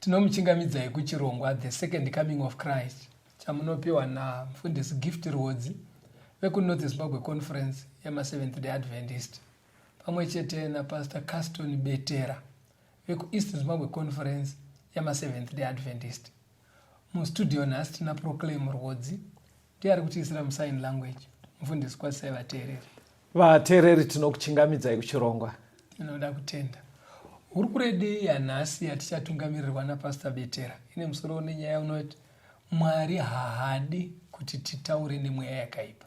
Tinomuchingamidzai kuchirongwa The Second Coming of Christ chamunopiwa naMfundisi Gift Rwodzi vekuNorth Zimbabwe Conference yemaSeventh Day Adventist pamwe chete naPastor Caston Betera vekuEast Zimbabwe Conference yemaSeventh Day Adventist. Mustudio nhasi tina Proclaim Rwodzi ndiye ari kutiisira musign language mufundisi kwasai vateereri vateereri tinokuchingamidzai kuchirongwa tinoda kutenda hurukure yanhasi yatichatungamirirwa napastor betera ine musoro une nyaya unoti mwari haadi kuti titaure nemweya yakaipa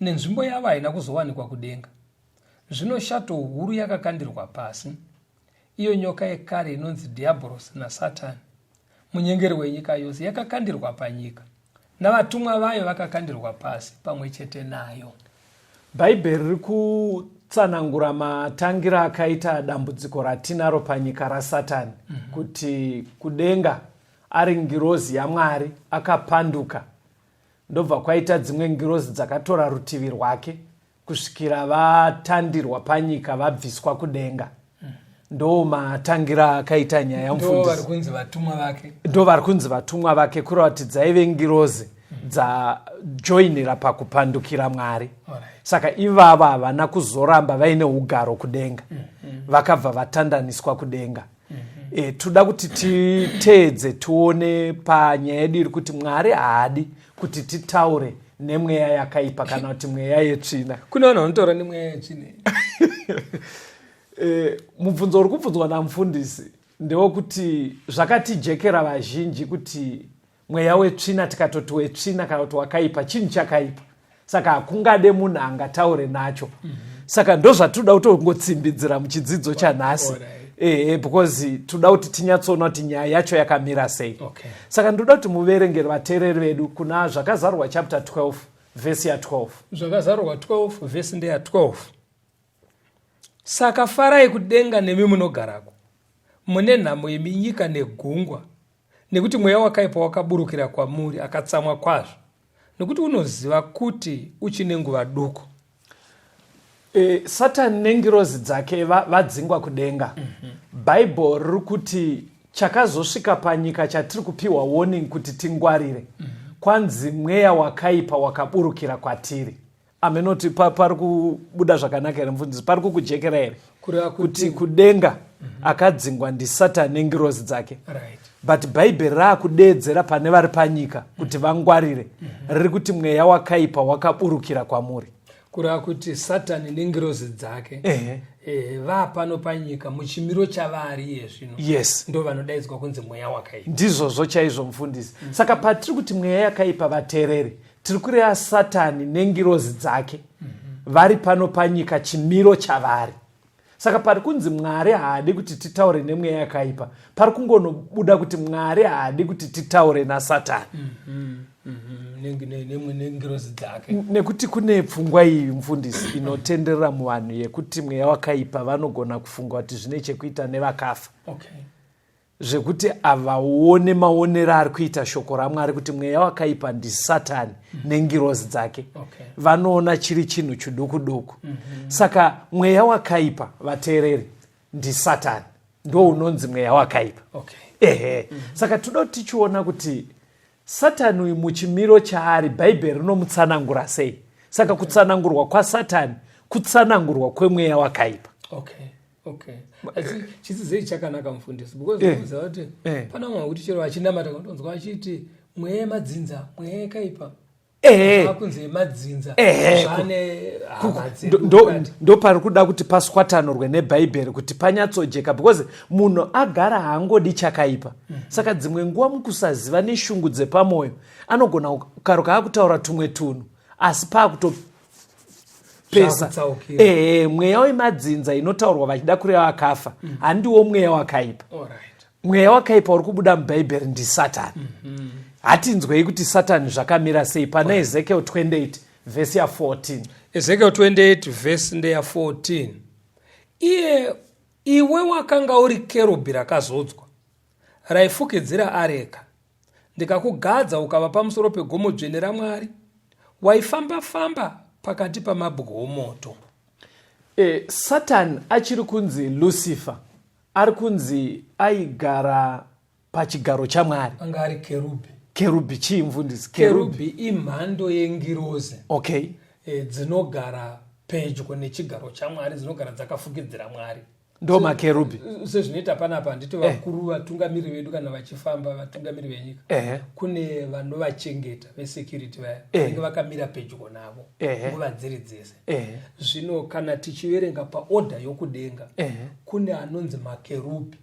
nenzvimbo yavo haina kuzowanikwa kudenga zvino shato huru yakakandirwa pasi iyo nyoka yekare inonzi dhiabhorosi nasatani munyengeri wenyika yose yakakandirwa panyika navatumwa vayo vakakandirwa pasi pamwe chete nayo bhaibheri riri kutsanangura matangira akaita dambudziko ratinaro panyika rasatani mm -hmm. kuti kudenga ari ngirozi yamwari akapanduka Ndobva kwaita dzimwe ngirozi dzakatora rutivi rwake kusvikira vatandirwa panyika vabviswa kudenga ndo matangira akaita nyaya mfundisi ndo vari kunzi vatumwa vake kuratidza ive ngirozi dzajoinira pakupandukira mwari saka ivavo havana kuzoramba vaine ugaro kudenga mm, mm. vakabva vatandaniswa kudenga e, toda kuti titeedze tione panyaya yedu iri kuti mwari haadi kuti titaure nemweya yakaipa kana kuti mweya yetsvina kune vanhu vanotaura nemweya yetsvina e, mubvunzo uri kubvunzwa namufundisi ndewekuti zvakatijekera vazhinji kuti mweya wetsvina tikatoti wetsvina kana kuti wakaipa chinhu chakaipa saka hakungade munhu angataure nacho mm -hmm. saka ndozvatinoda kutongotsimbidzira muchidzidzo chanhasi right ehe because toda kuti tinyatsoona kuti nyaya yacho yakamira sei okay. saka ndoda kuti muverengeri vateereri vedu kuna zvakazarurwa chapter 12 vhesi ya12 zvakazarurwa 12 vhesi ndeya 12 Saka farai kudenga nemi munogarako, mune nhamo imi nyika negungwa, nekuti mweya wakaipa wakaburukira kwamuri, akatsamwa kwazvo, nekuti unoziva kuti uchine nguva duku. E, satani nengirozi dzake va, vadzingwa kudenga mm -hmm. bhaibheri riri kuti chakazosvika panyika chatiri kupiwa warning kuti tingwarire mm -hmm. kwanzi mweya wakaipa wakaburukira kwatiri amenoti pa, pari kubuda zvakanaka here mufundisi pari kukujekera here kuti kudenga mm -hmm. akadzingwa ndisatan nengirozi dzake right. but bhaibheri raakudeedzera pane vari panyika kuti mhm. vangwarire mm -hmm. riri kuti mweya wakaipa wakaburukira kwamuri kureva kuti satani nengirozi dzake uh -huh. Eh, vaa pano panyika muchimiro chavaari iye zvino yes ndo vanodaidzwa kunzi mweya wakaipa ndizvozvo chaizvo mufundisi mm -hmm. saka patiri kuti mweya yakaipa vateereri tiri kureva satani nengirozi dzake mm -hmm. vari pano panyika chimiro chavari saka pari kunzi mwari haadi kuti titaure nemweya yakaipa pari kungonobuda kuti mwari haadi kuti titaure nasatani mm -hmm. nengirozi dzake nekuti kune pfungwa iyi mfundisi inotenderera muvanhu yekuti mweya wakaipa vanogona kufunga kuti zvine chekuita nevakafa okay. zvekuti avaone maonero ari kuita shoko ramwari kuti mweya wakaipa ndisatani mm -hmm. nengirozi dzake okay. vanoona chiri chinhu chiduku duku mm -hmm. saka mweya wakaipa vateereri ndisatani ndo unonzi mweya wakaipa okay. ehe mm -hmm. saka toda kuti tichiona kuti satani uyu muchimiro chaari bhaibheri rinomutsanangura sei saka okay. kutsanangurwa kwasatani kutsanangurwa kwemweya wakaipa okay. okay asi chisizei chakanaka mufundisi because eh. unoziva kuti eh. pana vamwe vakuti chero vachinamata kundonzwa vachiti mweya yemadzinza mweya yekaipa eh. akunzi yemadzinza zvane ndopari kuda kuti paswatanurwe nebhaibheri kuti panyatsojeka because munhu agara haangodi chakaipa mhm. saka dzimwe nguva mukusaziva neshungu dzepamwoyo anogona karuka akutaura tumwe tunhu asi paakuto pesa ehe mweya wemadzinza inotaurwa vachida kureva vakafa mm. handiwo mweya wakaipa mweya wakaipa uri kubuda mubhaibheri ndisatani mm-hmm. hatinzwei kuti satani zvakamira sei pana ezekiel 28 vhesi ya 14 ezekiel 28 vhesi ndeya 14 iye iwe wakanga uri kerubhi rakazodzwa raifukidzira areka ndikakugadza ukava pamusoro pegomo dzvene ramwari waifamba famba pakati pamabwe omoto e, satani achiri kunzi lucifer ari kunzi aigara pachigaro chamwari anga ari kerubhi kerubhi chii mfundisi kerubhi imhando yengirozi okay e, dzinogara pedyo nechigaro chamwari dzinogara dzakafukidzira mwari ndo makerubhi sezvinoita panapa handiti eh. vakuru eh. vatungamiri vedu kana vachifamba vatungamiri venyika eh. kune vanovachengeta vesecurity vaya eh. vanenge eh. vakamira pedyo navo eh. nguva eh. dziri dzese eh. zvino kana tichiverenga paodha yokudenga eh. kune anonzi makerubhi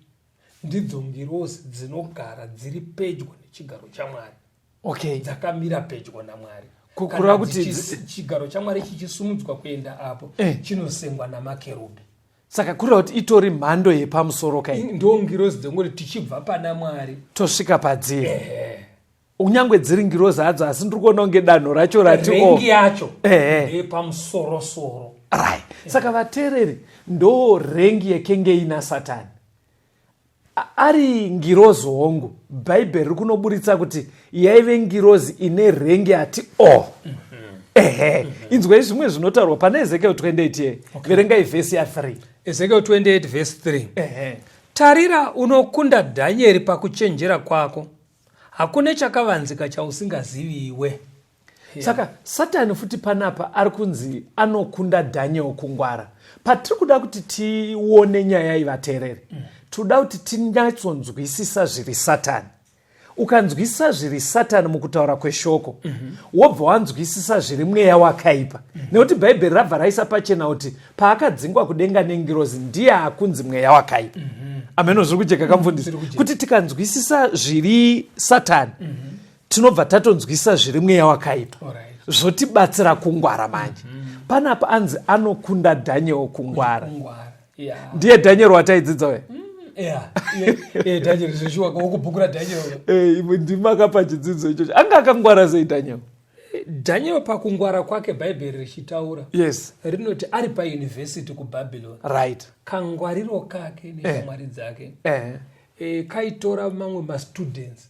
ndidzo ngirosi dzinogara dziri pedyo nechigaro chamwari okay. dzakamira pedyo namwari kureva kuti chigaro chamwari chichisumudzwa kuenda apo eh. chinosengwa namakerubhi saka kureva kuti itori mhando yepamusoro kai ndo ngirozi dzengoti tichibva pana mwari tosvika padziri eh. kunyange dziri ngirozi hadzo asi ndiri kuona kunge danho racho ratirengi yacho epamusorosoro eh. ri saka vateereri ndo rengi yekenge ina satani ari ngirozi hongu bhaibheri riri kunoburitsa kuti yaive ngirozi ine rengi ati o oh. mhm. ehe mhm. inzwai zvimwe zvinotaurwa pane ezekiel 28 ye verengai vhesi ya3 ezekiel 28 vhesi 3 tarira unokunda dhanyeri pakuchenjera kwako hakune chakavanzika chausingaziviwe yeah. saka satani futi panapa ari kunzi anokunda daniel kungwara patiri kuda kuti tione nyaya iyi vateereri mm. tinoda kuti tinyatsonzwisisa zviri satani ukanzwisisa zviri satani mukutaura kweshoko mm -hmm. wobva wanzwisisa zviri mweya wakaipa mm -hmm. nekuti bhaibheri rabva raisa pachena kuti paakadzingwa kudenga nengirozi ndiye akunzi mweya wakaipa mm -hmm. ameno zviri kujeka kamfundisi mm -hmm. kuti tikanzwisisa zviri satani mm -hmm tinobva tatonzwisa zviri mweya wakaita zvotibatsira kungwara manje mm -hmm. panapa anzi anokunda daniel kungwara ndiye daniel wataidzidza uye mm. ndima eh, akapa chidzidzo ichocho anga akangwara sei daniel daniel pakungwara kwake bhaibheri richitaura yes rinoti ari payunivhesiti kubabylon right kangwariro kake neshamwari eh. dzake eh. eh, kaitora mamwe mastudents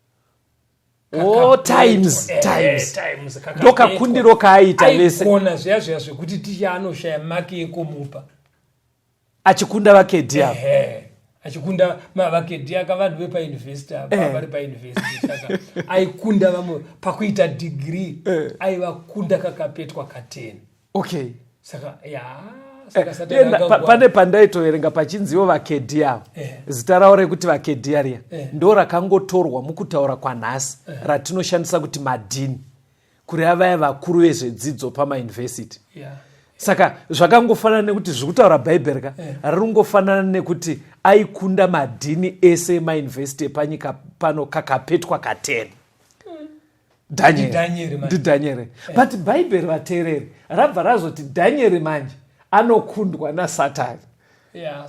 Oh, times eh, times times ndokakundiro kaaita vese kona zviya zviya zvekuti ticha anoshaya maki yekumupa achikunda vakedhi ava achikunda mavakedhi aka vanhu vepauniversity apa eh. vari pauniversity saka aikunda vamwe pakuita degree eh. aivakunda kakapetwa kateni okay saka ya pane pandaitoverenga pachinziwo vakedhi avo eh. zita ravo rekuti vakedhi ariya eh. ndo rakangotorwa mukutaura kwanhasi eh. ratinoshandisa kuti madhini kureva vaya vakuru vezvedzidzo pamauniversity saka zvakangofanana nekuti zviri kutaura bhaibheri ka riri kungofanana nekuti aikunda madhini ese emauniversity epanyika pano kakapetwa kateni Daniel. ndidhanyere eh. but bhaibheri vateereri rabva razoti dhanyeri manje anokundwa nasatani yeah,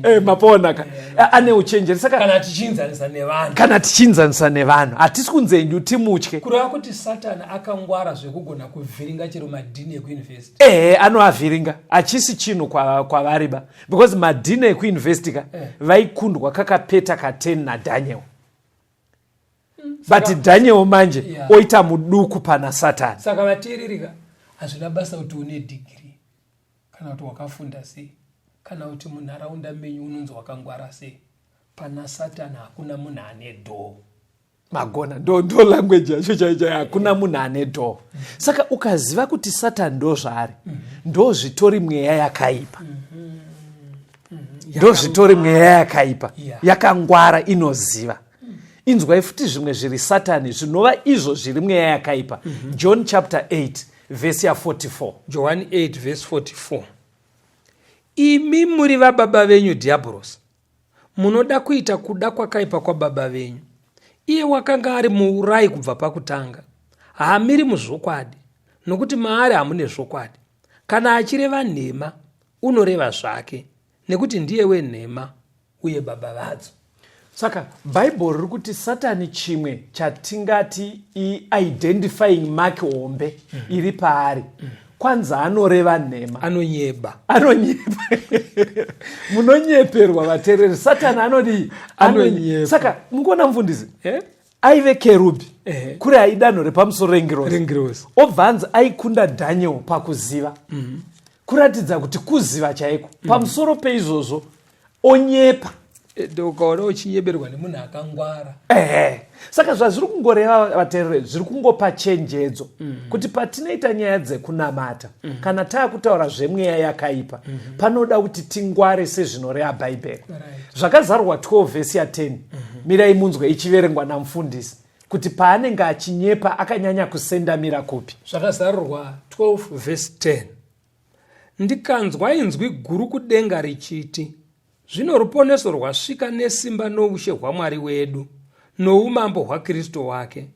eh, mapona ka yeah, ane uchenjeri sakakana tichiinzanisa nevanhu kana tichiinzanisa nevanhu hatisi kunze nyu timutye kureva kuti satani akangwara zvekugona kuvhiringa chero madhini ekuuniversity ehe eh, anoavhiringa hachisi chinhu kwavari kwa ba because madhini ekuuniversity ka eh. vaikundwa kakapeta ka 10 nadhanyel hmm, but daniel manje yeah. oita muduku pana satani saka vateerereka hazvina basa kuti une dhigiri kana kuti wakafunda sei kana kuti munharaunda menyu unonzi wakangwara sei pana satani hakuna munhu ane dhoo magona ndo ndo language yacho chaichai hakuna munhu ane dhoo saka ukaziva kuti satani ndo zvaari ndo zvitori mweya yakaipa mm -hmm. mm-hmm. ndozvitori mweya yakaipa yakangwara inoziva mm. inzwai futi zvimwe zviri satani zvinova izvo zviri mweya yakaipa mm-hmm. john chapter 8 vhesi ya 44 johani 8 vhesi 44 imi muri vababa venyu dhiyabhorosi munoda kuita kuda kwakaipa kwababa venyu iye wakanga ari muurai kubva pakutanga haamiri muzvokwadi nokuti maari hamune zvokwadi kana achireva nhema unoreva zvake nekuti ndiye wenhema uye baba vadzo saka bhaibheri riri kuti satani chimwe chatingati iidentifying mark hombe mm. iri paari mm. kwanza anoreva nhema anonyeba anonyeba munonyeperwa vatereri satani anodii anonyeba saka mukuona mufundisi eh? aive kerubi eh. kuri aidanho repamusoro rengirosi obva anzi aikunda daniel pakuziva mm -hmm. kuratidza kuti kuziva chaiko mm. pamusoro peizvozvo onyepa eh, ukaona uchinyeberwa nemunhu akangwara ehe saka zvazviri kungoreva vateereri zviri kungopa chenjedzo mm. kuti patinoita nyaya dzekunamata mm. kana taakutaura zvemweya yakaipa mm. panoda kuti tingware sezvinoreha bhaibheri right. zvakazarwa 12 vhesi ya 10 mm -hmm. mirai munzwe ichiverengwa namufundisi kuti paanenge achinyepa akanyanya kusendamira kupi zvakazarurwa 12 vhesi 10 ndikanzwa inzwi guru kudenga richiti zvino ruponeso rwasvika nesimba noushe hwamwari wedu noumambo hwakristu wake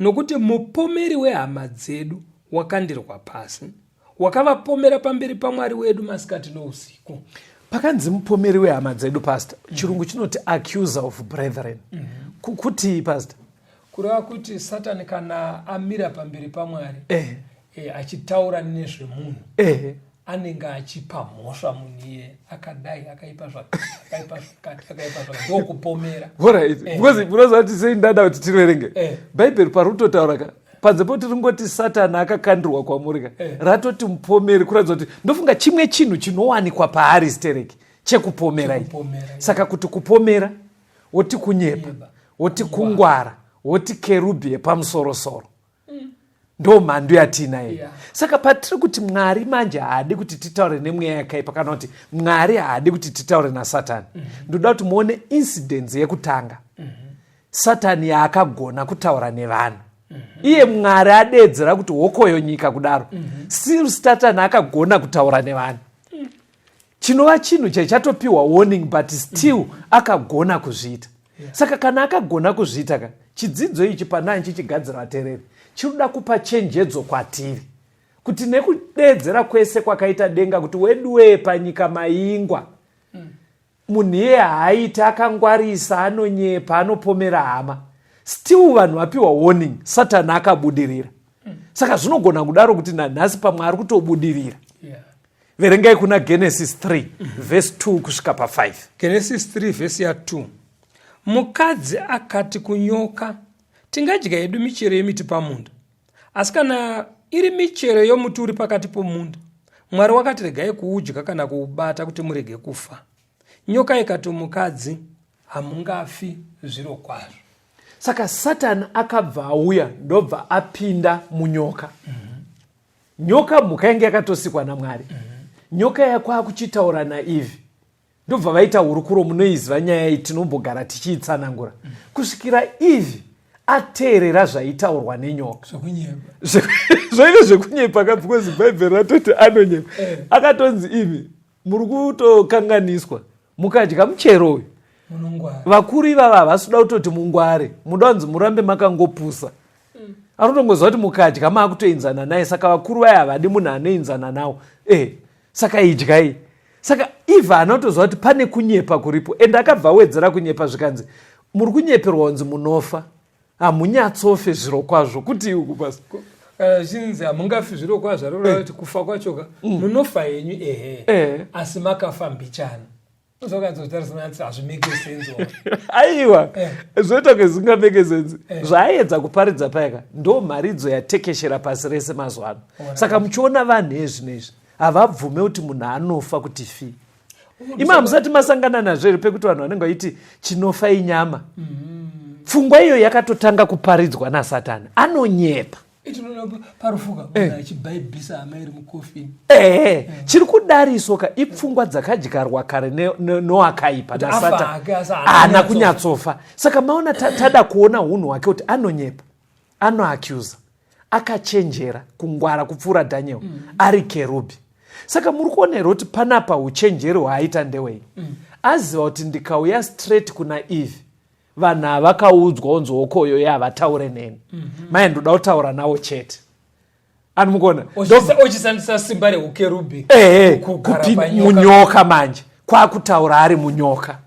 nokuti mupomeri wehama dzedu wakandirwa pasi wakavapomera pamberi pamwari wedu masikati nousiku pakanzi mupomeri wehama dzedu pastor mm -hmm. chirungu chinoti accuser of brethren mm -hmm. kukutii pastor kureva kuti satani kana amira pamberi pamwari eh. eh, achitaura nezvemunhu eh anenge achipa mhosva munhu iye akadai akaipa zvakaipanokupomera eh. because munoziva kuti sei ndada kuti tiverenge eh. bhaibheri parutotaura ka panze poti ringoti satani akakandirwa kwamuri ka eh. ratoti mupomeri kuratidza kuti ndofunga chimwe chinhu chinowanikwa paari stereki chekupomera i saka kuti kupomera woti kunyepa woti kungwara woti kerubhi yepamusorosoro mm. ndo mhandu yatiinayo yeah. saka patiri kuti mwari manje haadi kuti titaure nemweya yakaipa kana kuti mwari haadi kuti titaure nasatani mm -hmm. ndoda kuti muone incidence yekutanga mm -hmm. satani yaakagona kutaura nevanhu mhm. iye mwari adeedzera kuti hokoyo nyika kudaro mhm. still satani akagona kutaura nevanhu mm. chinova chinhu chaichatopiwa warning but still mm. akagona kuzviita saka kana akagona kuzviita ka chidzidzo ichi panani chichigadzira vatereri chinoda kupa chenjedzo kwatiri kuti nekudeedzera kwese kwakaita denga kuti weduwee panyika maingwa mm. Munhu iye haaite akangwarisa anonyepa anopomera hama still vanhu vapiwa warning satani akabudirira saka zvinogona kudaro kuti nanhasi pamwe ari kutobudirira verengai kuna genesis 3 vhesi 2 kusvika pa5 genesis 3 vhesi ya2 mukadzi akati kunyoka tingadya yedu michero yemiti pamunda Asi kana iri michero yomuti uri pakati pomunda, Mwari wakati regai kuudya kana kuubata kuti murege kufa. Nyoka ikati mukadzi, hamungafi zviro kwazvo. Saka Satani akabva auya ndobva apinda munyoka. Mm -hmm. Nyoka mhuka yange yakatosikwa naMwari. Mm -hmm. Nyoka yakwakuchitaura naIvhi. ndobva vaita hurukuro munoiziva nyaya iyi tinombogara tichiitsanangura kusvikira ivi ateerera zvaitaurwa nenyoka zvoive zvekunyepa ka because bhaibheri ratoti anonyepa eh. akatonzi imi muri kutokanganiswa mukadya muchero uyu vakuru ivava havasi kuda kutoti mungware muda kunzi murambe makangopusa mm. anotongoziva kuti mukadya maakutoinzana naye saka vakuru vaye havadi munhu anoinzana nawo e eh, saka idyai saka eve anotozva kuti pane kunyepa kuripo and akabva awedzera kunyepa zvikanzi muri kunyeperwa kunzi munofa hamunyatsofe zviro kwazvo kuti iuku pasi kana zvichinzi hamungafi zviro kwazvo arorava eh. kuti kufa kwachoka mm. munofa henyu ehe eh. asi makafa mbichana aiwa eh. zvoita kunge zvisinga make sense eh. zvaaiedza kuparidza payaka ndo mharidzo yatekeshera pasi rese mazuva ano saka muchiona vanhu ezvino izvi havabvume kuti munhu anofa kuti fi ima hamusati masangana nazvo here pekuti vanhu vanenge vaiti chinofa inyama mm-hmm. pfungwa iyo yakatotanga kuparidzwa nasatani anonyepa ehe chiri kudariswa ka ipfungwa dzakadyarwa kare noakaipa nasata haana kunyatsofa saka maona tada kuona unhu hwake kuti anonyepa anoacusa akachenjera kungwara kupfuura daniel mm. ari kerubhi saka muri kuonerwa kuti panapa uchenjeri hwaaita ndewei mm. aziva kuti ndikauya straight kuna eve vanhu avakaudzwa onzi hokoyo ye havataure neni mm -hmm. maye ndoda kutaura nawo chete ani mukuona ochishandisa simba reukerubi ehe munyoka manje kwakutaura ari munyoka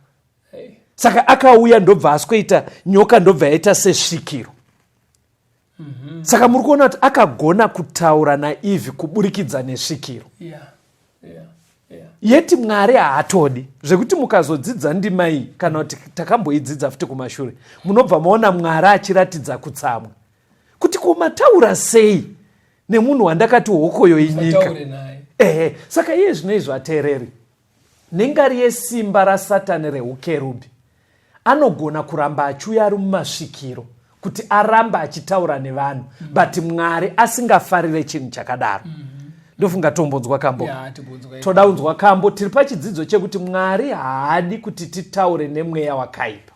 saka akauya ndobva asikoita nyoka ndobva yaita sesvikiro mm -hmm. saka muri kuona kuti akagona kutaura naivhi kuburikidza nesvikiro yeah. Yeah. Yeah. yeti mwari haatodi zvekuti mukazodzidza ndima iyi kana kuti takamboidzidza futi kumashure munobva maona mwari achiratidza kutsamwa kuti kumataura sei nemunhu wandakati hokoyo inyika ehe saka iye zvino izvo ateereri Nengari yesimba raSatani rehukerubhi, anogona kuramba achiuya ari mumasvikiro kuti arambe achitaura nevanhu mm. but mwari asingafarire chinhu chakadaro mm -hmm. ndofunga tombonzwa kambo yeah, toda unzwa kambo tiri pachidzidzo chekuti mwari haadi kuti titaure nemweya wakaipa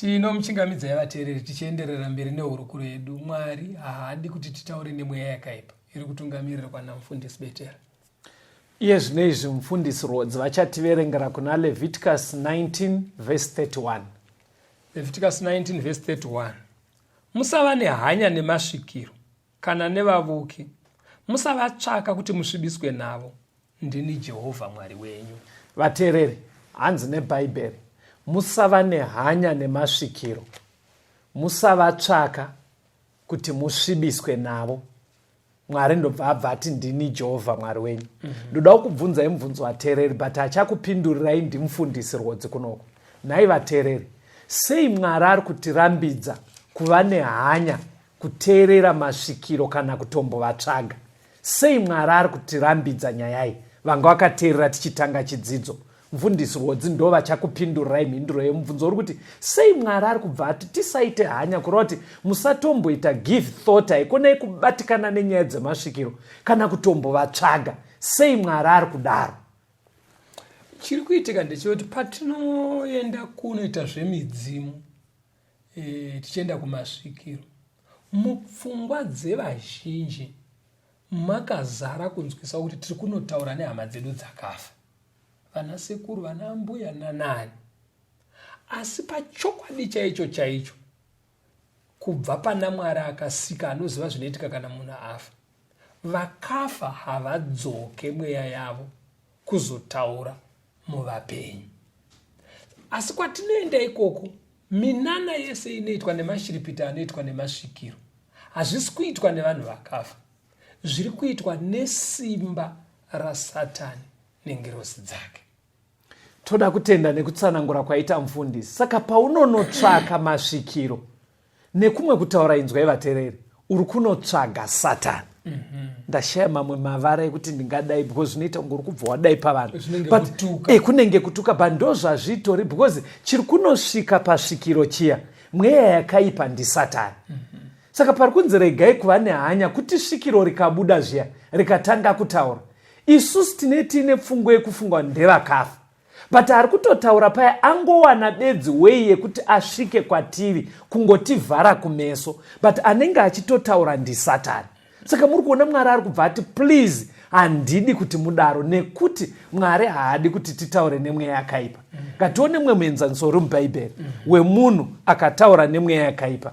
tinomuchingamidza yavateereri tichienderera mberi nehurukuro yedu mwari haadi kuti titaure nemweya yakaipa iri kutungamirira kwana mufundisi betera Iye zvino izvi mufundisi Rhodzi vachativerengera kuna Leviticus 19 vhesi 31. Leviticus 19 vhesi 31. Musava nehanya nemasvikiro kana nevavuki, musavatsvaka kuti musvibiswe navo. Ndini Jehovha Mwari wenyu. Vateereri, hanzi neBhaibheri, musava nehanya nemasvikiro, musavatsvaka kuti musvibiswe navo. mwari ndobva abva ati ndini jehovha mwari wenyu mhm. ndoda mm -hmm. kukubvunzai mubvunzo vateereri but achakupindurirai ndimufundisi rwodzi kunoko nhai vateereri sei mwari ari kutirambidza kuva nehanya kuteerera masvikiro kana kutombovatsvaga sei mwari ari kutirambidza nyayai vanga vakateerera tichitanga chidzidzo Mfundisi Rwodzi ndovachakupindurai mhinduro yemubvunzo uri kuti sei Mwari ari kubva ati tisaite hanya kureva kuti musatomboita give thought haikona yekubatikana nenyaya dzemasvikiro kana kutombovatsvaga sei Mwari ari kudaro chiri kuitika ndechekuti patinoenda kunoita zvemidzimu e, tichienda kumasvikiro mupfungwa dzevazhinji makazara kunzwisa kuti tiri kunotaura nehama dzedu dzakafa vanasekuru vana ambuya nanani asi pachokwadi chaicho chaicho kubva pana mwari akasika anoziva zvinoitika kana munhu afa vakafa havadzoke mweya yavo kuzotaura muvapenyu asi kwatinoenda ikoko minana yese inoitwa nemashiripiti anoitwa nemasvikiro hazvisi kuitwa nevanhu vakafa zviri kuitwa nesimba rasatani nengirozi dzake toda kutenda nekutsanangura kwaita mfundisi saka paunonotsvaka masvikiro nekumwe kutaura inzwai vatereri uri kunotsvaga satani mhm. ndashaya mamwe mavara ekuti ndingadai because zvinoita kunge uri kubva wadai pavanhu eh, kunenge kutuka but ndo zvazvitori because chiri kunosvika pasvikiro chiya mweya yakaipa ndisatani mhm. Saka pari kunzi regai kuva nehanya kuti svikiro rikabuda zviya rikatanga kutaura. Isusu tine tiine pfungwa yekufungwa ndevakafa. But ari kutotaura paya angowana bedzi wei yekuti asvike kwatiri kungotivhara kumeso but anenge achitotaura ndisatani. Saka muri kuona Mwari ari kubva ati please handidi kuti mudaro nekuti mwari haadi kuti titaure nemweya yakaipa ngatione mumwe muenzaniso uri mubhaibheri wemunhu akataura nemweya yakaipa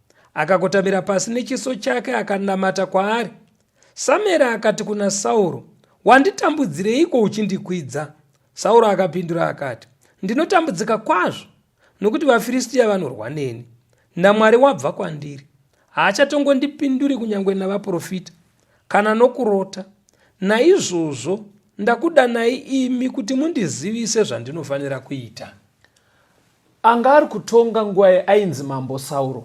akakotamira pasi nechiso chake akanamata kwaari samueri akati kuna sauro wanditambudzireiko uchindikwidza sauro akapindura akati ndinotambudzika kwazvo nokuti vafiristiya vanorwa neni namwari wabva kwandiri haachatongondipinduri kunyange navaprofita kana nokurota naizvozvo ndakudanai imi kuti mundizivise zvandinofanira kuita Anga ari kutonga nguva yainzi Mambo Sauro.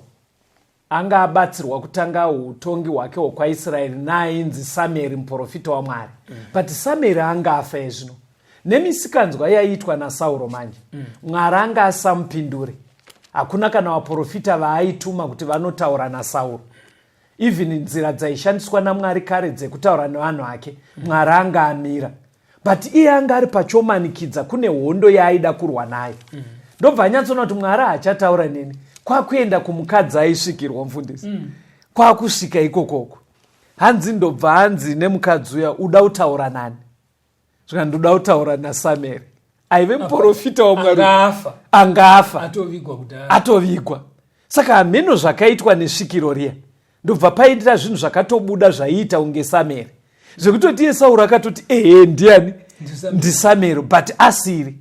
Anga abatsirwa kutanga utongi hwake hwokwaIsraeri naainzi Samueri muprofita waMwari. Mm. But Samueri anga afa ezvino. Nemisikanzwa yaiitwa naSauro manje, mm. Mwari anga asamupinduri. Hakuna kana vaprofita vaaituma kuti vanotaura naSauro. Even nzira dzaishandiswa naMwari kare dzekutaura nevanhu ake, mm. Mwari anga amira. but iye anga ari pachomanikidza kune hondo yaaida kurwa nayo mm. ndobva anyatsoona kuti mwari haachataura neni kwakuenda kumukadzi aisvikirwa mfundisi mm. kwakusvika ikokoko hanzi ndobva hanzi nemukadzi uya uda kutaura nani zvikanzi ndoda kutaura nasamueri aive muprofita wamwari angafa atovigwa saka hameno zvakaitwa nesvikiro riya ndobva paitira zvinhu zvakatobuda zvaiita kunge sameri zvekutoti iye sauro akatoti ehe ndiani ndisamero but asiri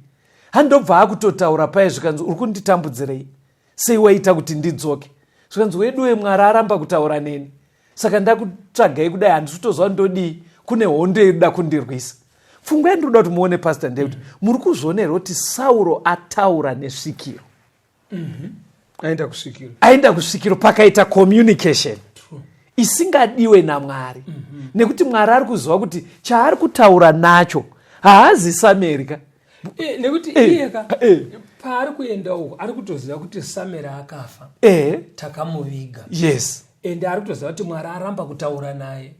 handobva akutotaura paye zvikanzi uri kunditambudzirei sei waita kuti ndidzoke zvikanzi weduwe mwari aramba kutaura neni saka ndakutsvagai kudai handisi kutoziva ndodii kune hondo yeduda kundirwisa pfungwa yandinoda kuti muone pasta ndeyekuti mm. muri kuzviona here kuti sauro ataura nesvikiro mm-hmm. aenda kusvikiro aenda kusvikiro pakaita communication isingadiwe namwari mm-hmm. nekuti mwari ari kuziva kuti chaari kutaura nacho haazisamerika eh, nekuti eh, iyeka eh. paari kuenda uko ari kutoziva kuti samera akafa takamuviga yes ende ari kutoziva kuti mwari aramba kutaura naye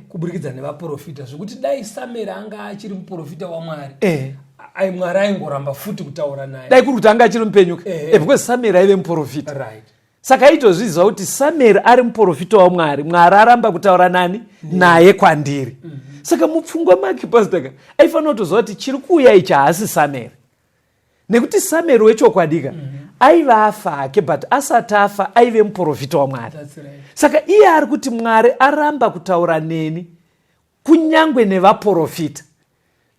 kuburikidza nevaprofita zvekuti dai samera anga achiri muprofita wamwari ai mwari aingoramba futi kutaura naye dai kuri kuti anga achiri mupenyuka because samera aive muprofita right saka aitozviziva kuti samueri ari muprofita wamwari mwari aramba kutaura nani naye kwandiri mhm. saka mupfungwa make pastaka aifanira kutoziva kuti chiri kuuya ichi haasi samueri nekuti samueri wechokwadika mhm. aiva afa ake but asati afa aive muprofita wamwari saka iye ari kuti mwari aramba kutaura neni kunyangwe nevaporofita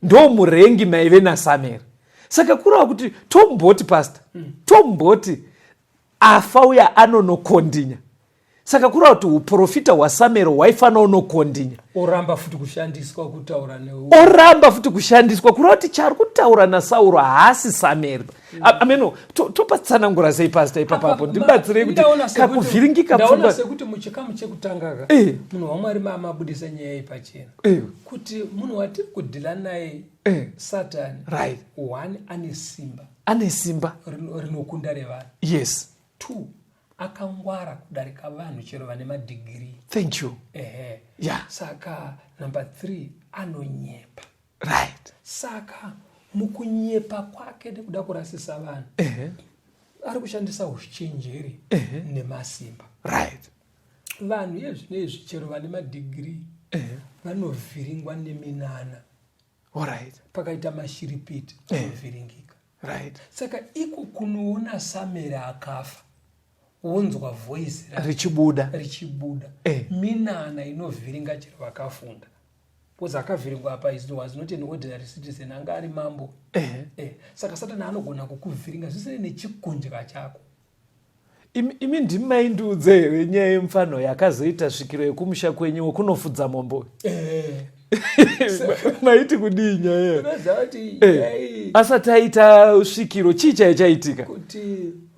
ndo murengi maive nasamueri saka kureva kuti tomboti pasta mm. tomboti afa uya anonokondinya saka kureva kuti uprofita hwasamueri hwaifanira unokondinya oramba futi kushandiswa kutaura ne oramba futi kushandiswa kureva kuti chari kutaura nasauro haasi samueri ameno mm. to, topatsanangura sei pasta ipapapo ndibatsirei kuti kakuvhiringika pfungwa sekuti muchikamu chekutanga ka eh. munhu wamwari mamabudisa nyaya iyi pachena eh. kuti munhu watiri kudhila naye eh. satani right one ane simba ane simba rinokunda revanhu yes two akangwara kudarika vanhu chero vane madhigirii thank you ehe yeah. saka number three anonyepa right saka mukunyepa kwake nekuda kurasisa vanhu uh -huh. ari kushandisa uchenjeri uh -huh. nemasimba right vanhu yezvino izvi chero vane madhigiri uh -huh. vanovhiringwa neminana right. pakaita mashiripiti anovhiringika right saka iko kunoona samere akafa wonzwa voice richibuda richibuda eh. minana inovhiringa chero vakafunda bcause akavhiringwa apa is was not an ordinary citizen anga ari mambo eh. Eh. saka satani anogona kukuvhiringa zvisine nechikundya chako Imi, imi ndimi maindiudze here nyaya yemufana uyo akazoita svikiro yekumusha kwenyu wekunofudza mombe uyo eh. maiti kudii nyaya eh. asati aita svikiro chii chaiye chaitika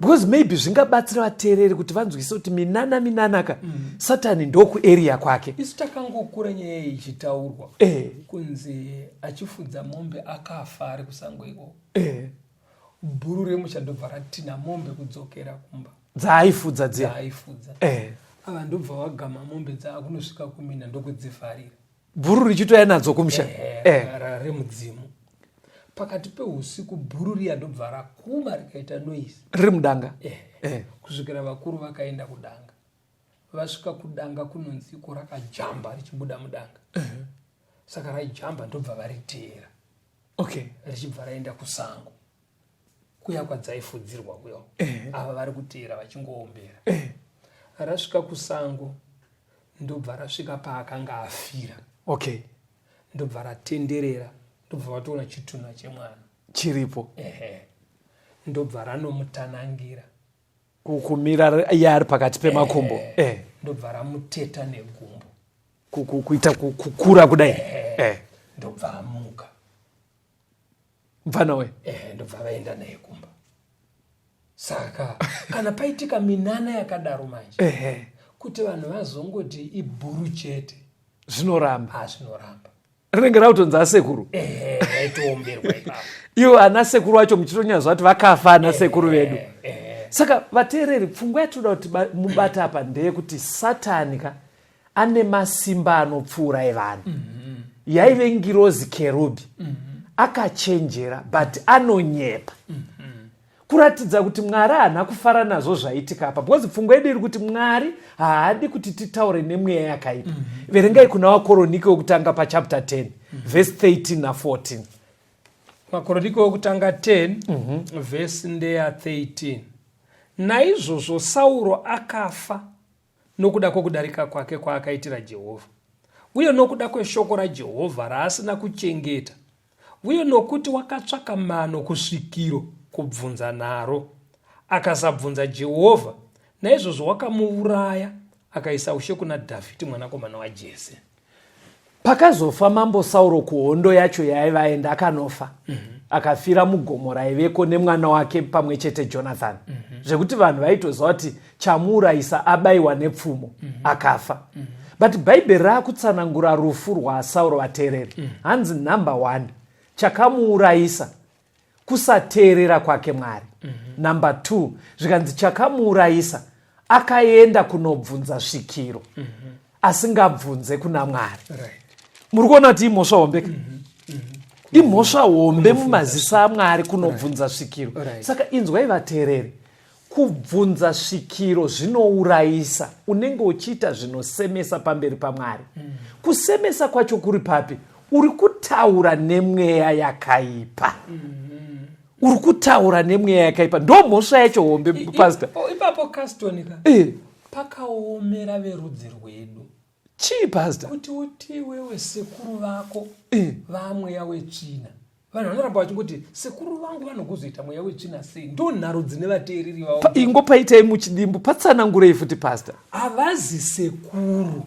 because maybe zvingabatsira vateereri kuti vanzwise kuti minana minana ka mm. satani ndokuarea kwake isu takangokura nyaya iyi ichitaurwa eh. kunzi achifudza mombe akafa ari kusango ikoko bhuru remusha ndobva ratina mombe kudzokera kumba dzaaifudza dziya dzaaifudza eh. ava ndobva wagama mombe dzaakunosvika kumina ndokudzivharira bhuru richitouya nadzo kumusha eh, eh. remudzimu pakati peusiku bhuru riya ndobva rakuma rikaita noise riri mudanga eh. Eh. kusvikira vakuru vakaenda kudanga vasvika kudanga kunonzi ko rakajamba richibuda mudanga eh. saka raijamba ndobva variteera okay richibva raenda kusango kuya kwadzaifudzirwa kuyo eh. ava vari kuteera vachingoombera eh. rasvika kusango ndobva rasvika paakanga afira okay ndobva ratenderera ndobva vatoona chitunha chemwana chiripo ehe ndobva ranomutanangira kumira yaari pakati pemakumbo eh. ndobva ramuteta negumbo kuita kukura kudai eh. ndobva amuka mfana we eh, ndobva vaenda naye kumba saka kana paitika minana yakadaro manje eh. kuti vanhu vazongoti ibhuru chete zvinoramba ah, zvinoramba rinenge rautonzi asekuru ivo ana sekuru vacho muchitonyaza vati vakafa ana sekuru vedu saka vateereri pfungwa yatinoda kuti mubata apa ndeyekuti satani ka ane masimba anopfuura evanhu mhm. yaive ngirozi kerubhi mhm. akachenjera but anonyepa mhm. kuratidza kuti mwari haana kufara nazvo zvaitika apa because pfungwa yedu iri kuti mwari haadi kuti titaure nemweya yakaipa mm -hmm. verengai kuna wakoronike wekutanga pachapter 10 mm -hmm. vhesi 13 na14 makoronike wekutanga 10 mm -hmm. vhesi ndeya 13 naizvozvo sauro akafa nokuda kwokudarika kwake kwaakaitira Jehovha, uye nokuda kweshoko raJehovha raasina kuchengeta, uye nokuti wakatsvaka mano kusvikiro kubvunza naro, akasabvunza Jehovha, naizvozvo wakamuuraya, akaisa ushe kuna Dhavhidhi mwanakomana waJese. pakazofa mambo sauro kuhondo yacho yaaiva aenda akanofa mm -hmm. akafira mugomo raiveko nemwana wake pamwe chete jonathan mm -hmm. zvekuti vanhu vaitoziva kuti chamuurayisa abayiwa nepfumo mm -hmm. akafa mm -hmm. but bhaibheri raakutsanangura rufu rwasauro vateereri mm -hmm. hanzi number one chakamuurayisa kusateerera kwake mwari mm -hmm. number two zvikanzi chakamuurayisa akaenda kunobvunza svikiro mm -hmm. asingabvunze kuna mwari right. muri kuona kuti imhosva hombe mm -hmm imhosva hombe mumazisa amwari kunobvunza svikiro saka inzwai vateereri kubvunza svikiro zvinourayisa unenge uchiita zvinosemesa pamberi pamwari mm. kusemesa kwacho kuri papi uri kutaura nemweya yakaipa mm -hmm. uri kutaura nemweya yakaipa ndo mhosva yacho hombe pasta ipapo caston ka e. pakaomera verudzi rwedu chii pasta kuti uti wewe sekuru vako eh. vamweya wetsvina vanhu vanoramba vachingoti sekuru vangu vanokuzoita mweya wetsvina sei ndo nharo dzine vateereri vavo ingo paitai muchidimbu patsanangurei futi pasta havazi sekuru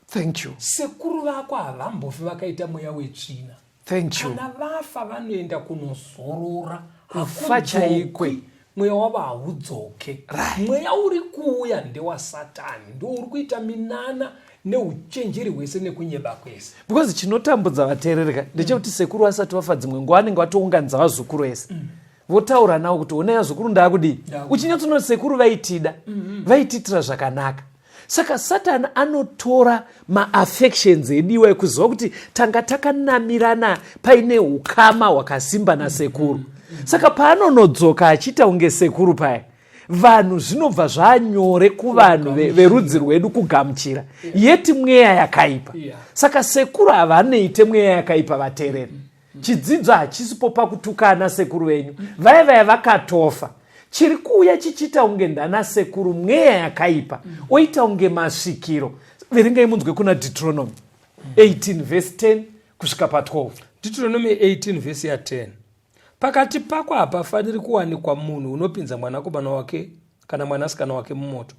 thank you sekuru vako havambofi vakaita mweya wetsvina Thank you. Kana vafa vanoenda kunozorora kufa chaikwe mweya wavo haudzoke right. mweya uri kuuya ndewasatani ndo uri kuita minana neuchenjeri hwese nekunyeba kwese because chinotambudza vateerereka ndechekuti mm. sekuru vasati vafa dzimwe nguva anenge vatounganidza vazukuru ese mm. votaura nawo kuti honai azukuru ndaakudii uchinyatsoona sekuru vaitida mm-hmm. vaitiitira zvakanaka saka satani anotora maaffections ediwa ekuziva kuti tanga takanamirana paine ukama hwakasimba nasekuru mm-hmm. saka paanonodzoka achiita kunge sekuru paya vanhu zvinobva zvanyore kuvanhu verudzi rwedu kugamuchira yeti mweya yakaipa saka sekuru havanoite mweya yakaipa vatereri mm-hmm. chidzidzo hachisipo pakutukana sekuru venyu vaya vaya vakatofa chiri kuuya chichiita kunge ndana sekuru mweya yakaipa oita kunge masvikiro verengai munzwe kuna deuteronomy 18 vhesi 10 kusvika pa12 deuteronomy 18 vhesi ya 10 pakati pako hapafaniri kuwanikwa munhu unopinza mwanakomana wake kana mwanasikana wake mumoto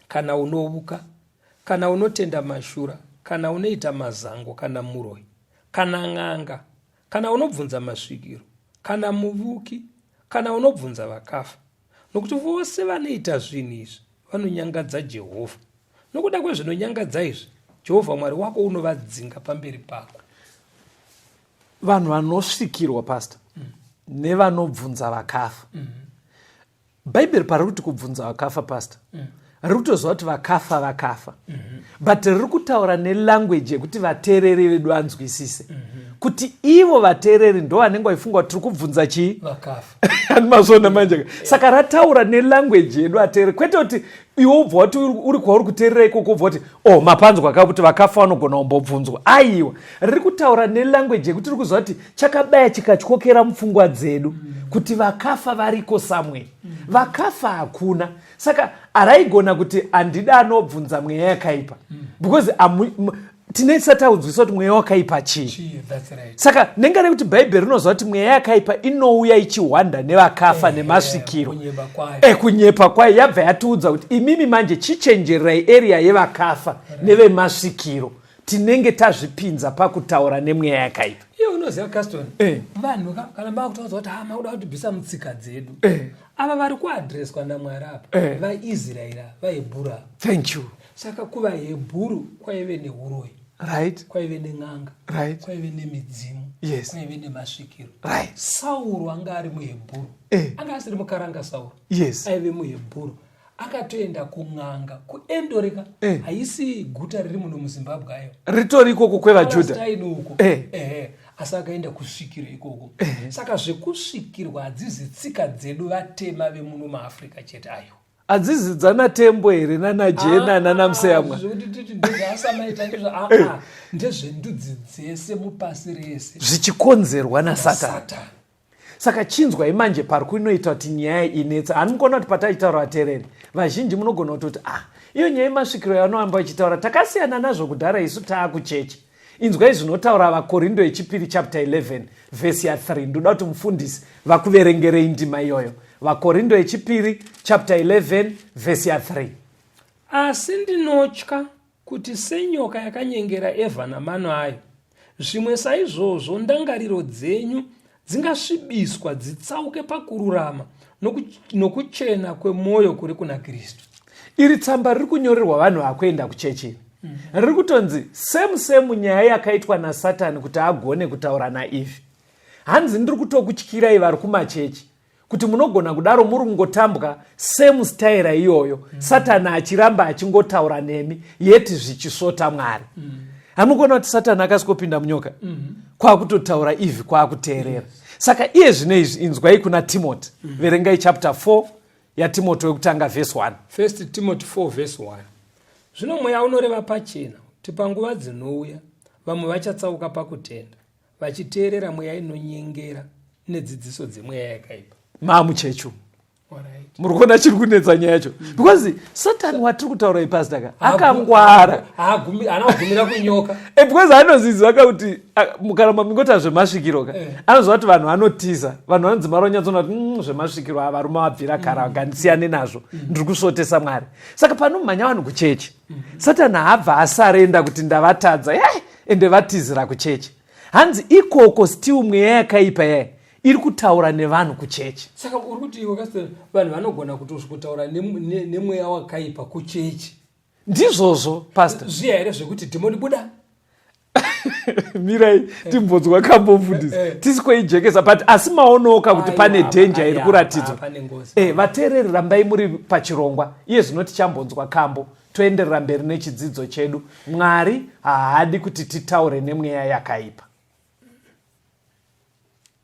kana unovuka kana unotenda mashura kana unoita mazango kana muroi kana n'anga kana unobvunza masvikiro kana muvuki kana unobvunza vakafa nokuti vose vanoita zvinhu izvi vanonyangadza jehovha nokuda kwezvinonyangadza izvi jehovha mwari wako unovadzinga pamberi pako vanhu vanosvikirwa pasta mm. nevanobvunza vakafa mm. bhaibheri pariri kuti kubvunza vakafa pastor mm. riri kutoziva kuti vakafa vakafa mm -hmm. but riri kutaura nelanguage yekuti vateereri vedu vanzwisise mm -hmm. kuti ivo vateereri ndo vanenge vaifunga kuti tiri kubvunza chii vakafa andimazvona manje yeah. saka rataura nelanguage yedu ateereri kwete kuti iwe ubva wati uri kwauri kuteerera ikoko ubva wati o oh, mapanzwa ka kuti vakafa vanogona kumbobvunzwa aiwa riri kutaura nelanguage yekuti ri kuziva kuti chakabaya chikatyokera mupfungwa dzedu kuti vakafa variko somewhere vakafa hakuna saka araigona kuti handida anobvunza mweya yakaipa because tinesati audzwisa kuti mweya wakaipa chii saka nenga rekuti bhaibheri rinoziva kuti mweya yakaipa inouya ichihwanda nevakafa eh, nemasvikiro ekunyepa eh, kwayo yabva yatiudza kuti imimi manje chichenjererai eriya yevakafa nevemasvikiro tinenge tazvipinza pakutaura nemweya yakaipa iye unoziva caston eh. vanhu kana makutaudza kuti ha makuda kutibvisa mutsika dzedu ava vari kuadreswa namwari apa vaisraeri vaibhura thank you saka kuva hebhuru kwaive neuroyi right kwaive nen'anga right kwaive nemidzimu yes kwaive nemasvikiro right sauro anga ari muhebhuru eh. anga asiri mukaranga sauro yes aive muhebhuru akatoenda kun'anga kuendoreka eh. haisi guta riri muno muzimbabwe ayo ritori ikoko kwevajudhaini uko eh. eh. asi akaenda kusvikiro ikoko eh. saka zvekusvikirwa hadzizi tsika dzedu vatema vemuno maafrica chete ayo adzizi dzanatembo here nanajena ah, nanamseyamwa ah, ah, eh. ndezvendudzi dzese mupasi rese zvichikonzerwa nasatani saka chinzwai manje pari kuinoita kuti nyaya inetsa hanimukona kuti pataitaura vatereri vazhinji munogona kutoti ah iyo nyaya yemasvikiro yavanoamba vachitaura takasiyana nazvo kudhara isu taakucheche Inzwai zvinotaura vaKorindo yechipiri chapter 11 vhesi ya 3. Ndoda kuti mufundisi vakuverengerei ndima iyoyo. VaKorindo yechipiri chapter 11 vhesi ya 3. Asi ndinotya kuti senyoka yakanyengera Evha namano ayo, zvimwe saizvozvo ndangariro dzenyu Dzingasvibiswa dzitsauke pakururama nokuchena kwemwoyo kuri kuna Kristu. Iri tsamba riri kunyorerwa vanhu vakuenda kuchechi mm. riri kutonzi semu semu nyaya yakaitwa nasatani kuti agone kutaura naivhi hanzi ndiri kutokutyirai vari kumachechi kuti munogona kudaro muri kungotambwa same staira iyoyo mm. satani achiramba achingotaura nemi yeti zvichisvota mwari mm. hamugona kuti satani akasikopinda munyoka mm -hmm. kwakutotaura ivi kwakuteerera yes. saka iye zvine izvi inzwai kuna timoti mm. verengai chapter 4 yatimoti wekutanga vhesi 1 first timoti 4 vhesi 1 zvino mweya unoreva pachena kuti panguva dzinouya vamwe vachatsauka pakutenda vachiteerera mweya inonyengera nedzidziso dzemweya yakaipa maamuchechu muri kuona chiri kunetsa nyaya yacho mm. because satani watiri kutaura ipasita ka akangwara anagumira kunyoka eh, because anoziziva ka kuti kana mamingota zvemasvikiro ka eh. anoziva kuti vanhu vanotiza vanhu vanodzimara vanyatsona kuti mm, zvemasvikiro avarume vabvira kara mm. ngandisiyane nazvo ndiri kusvotesa mwari saka panomhanya vanhu kuchechi satani haabva asarenda kuti ndavatadza yai ende vatizira kuchechi hanzi ikoko still mweya yakaipa yai iri kutaura nevanhu kuchechi saka uri kuti iwe kasita vanhu vanogona kutozvikotaura nemweya wakaipa kuchechi ndizvozvo pasta zviya here zvekuti dhimoni buda mirai eh. timbodzwa kambofundisi eh, eh. tisi kweijekesa but asi maonoka kuti pane dhenja iri kuratidzwa e vateereri rambai muri pachirongwa iye zvino tichambonzwa kambo toenderera mberi nechidzidzo chedu mwari haadi kuti titaure nemweya yakaipa